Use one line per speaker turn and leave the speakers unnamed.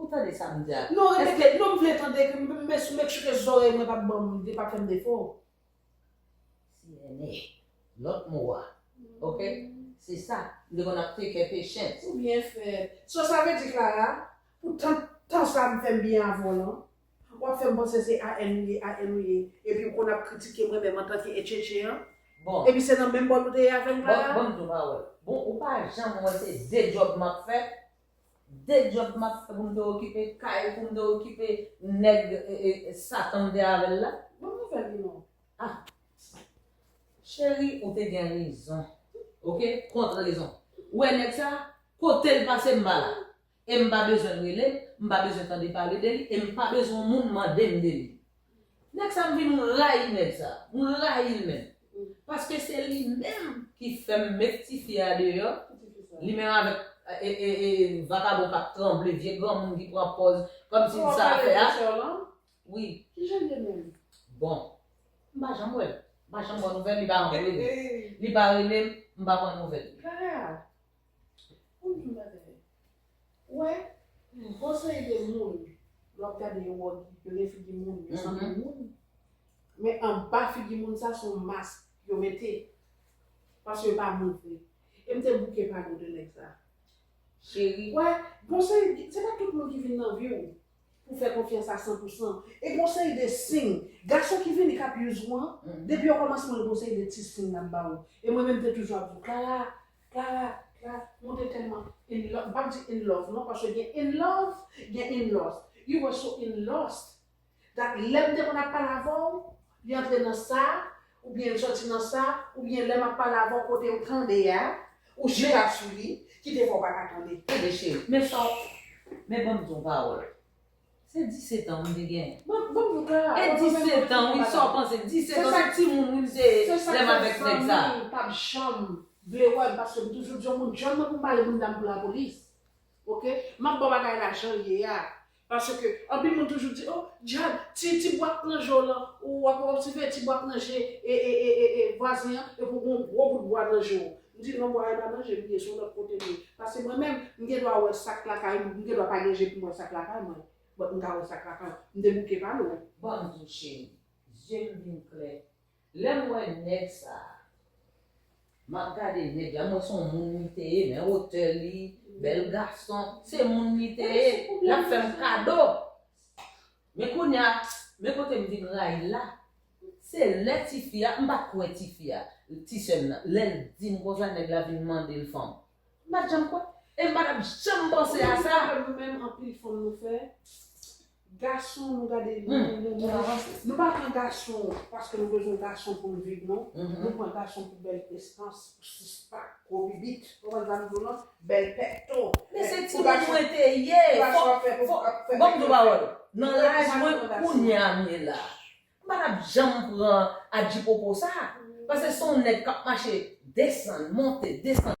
Ou tande sa m di a? Non repete, non m
vle tande ke m met sou mèt chouke zòrèy mwen pa banm li pa fèm defo.
Sirene, lòt mo a. Ok? Se sa, m te konn ap tekè Patience. Ou byen fèt.
So sa vle di Clara, pou tant tan sa m fèm byen avè w lan, w ap fèm panse se AN ou ye, AN ou ye, epi w konn ap kritike mwen menm antanke etchetche an? Bon. Epi se nan
menm bòl ou
te ye avè m Clara? Bon, bon m tou pa wè l. Bon ou
pa janm wè se 2 djòb m ap fè? De djòb map fè pou m te okipe kay pou m te okipe nèg satan m te avèl la. Bon nouvèl li non.
Ah
Cheri ou te gen rezon ok kont rezon ou wè nèg sa kotel pase m pa la e m pa bezwen l rele m m pa bezwen tande pale de li e m pa bezwen moun mandem de li. Nèg sa m vin rayi nèg sa, m rayi l menm. Paske se li menm ki fè m met ti fi a deyò, li menm avèk vakabon k ap tranble, vye granmoun ki pran pòz kòmsi li sa l fè a. Wi. Ki jan l ye menm?
Bon,
m pa janm wè l. M pa janm pran nouvèl, li pa janm rele m. Li pa rele m, m pa pran nouvèl. Kara,
Pou kisa w pa tande? Wè yon bon seri de moun lè w ap gade yo wè yo gen figi moun, yo sanble moun men anba figi moun sa se yon mask yo mete paske yo pa montre e m te bouke pale w de nèg sa Cheri.
Wè gon
seri de se pa tout moun ki vin nan vi w pou w fè konfyans a san pou san e gon seri de siy gason ki vini k ap use ou an depi okòmansman l gen yon seri de ti siy l ap ba w e mwen menm m te toujou ap di w Clara Clara Clara monte tèlman in love, m pap di in love non paske gen in love gen in lost, you were so in lost that lèm te konn ap pale avèw li antre nan sa oubyen li sòti nan sa oubyen lèm ap pale avèw kotew tande a ou jete ap sou li kite fè w paka tande. Tande cheri men sa w
men banm di w yon pawòl. Se 17 ans m te gen. Bon bon nou ka. E
17
ans wi sa w panse 17 ans se timoun wi m te lè m avèk nèg sa. Se sa k fè zanmi pa p janm
vle wè m paske m toujou di yon moun jan m nan pou m bale bounda m pou lapolis ok. M ap ba w bagay la jan l ye a paske anpil moun toujou di oh djad ti ti bwat pran je w lan ou w ap siveye ti bwat nan je e e e e vwazen an epi w gen yon gwo bout bwa nan je w. M di l non bwa e pa nan je m li ye se yon lòt kote m ye paske mwen menm m gen dwa wè sak lakay m m gen dwa pa gen je pou m wè sak lakay mwen but m ka wè sak lakay w m debouke pa lwen. Bonjou cheri
zye m vin klè lè m wè nèg sa m ap gade nèg la m wè se yon moun li te ye men wotè li bèl gason se moun li te ye l ap fè m kado Men kounya, men kote m vin rayi l la, se lè tifi a, m pa t kwè tifi a, ti sè m nan, lè l di m konsa nèg la vin mande l fanm. M pa t janm kwè, e m pa t ap janm panse a sa. Ou menm m panse nou menm anpil fanm nou
fè, gason nou gade nou menm nou menm, nou pa pran gason paske nou bezwen gason pou n viv non, nou pran gason pou bèl prestans, pou six pack, gwo bibit, konprann sa m di w lan? Bèl pèkto. Men se timoun
mwen te ye. Bon m di w pawòl. Nan laj mwen kounye a m ye la. M pa tap janm pran adjipopo sa. Pase son nèg k ap mache desann, monte, desann.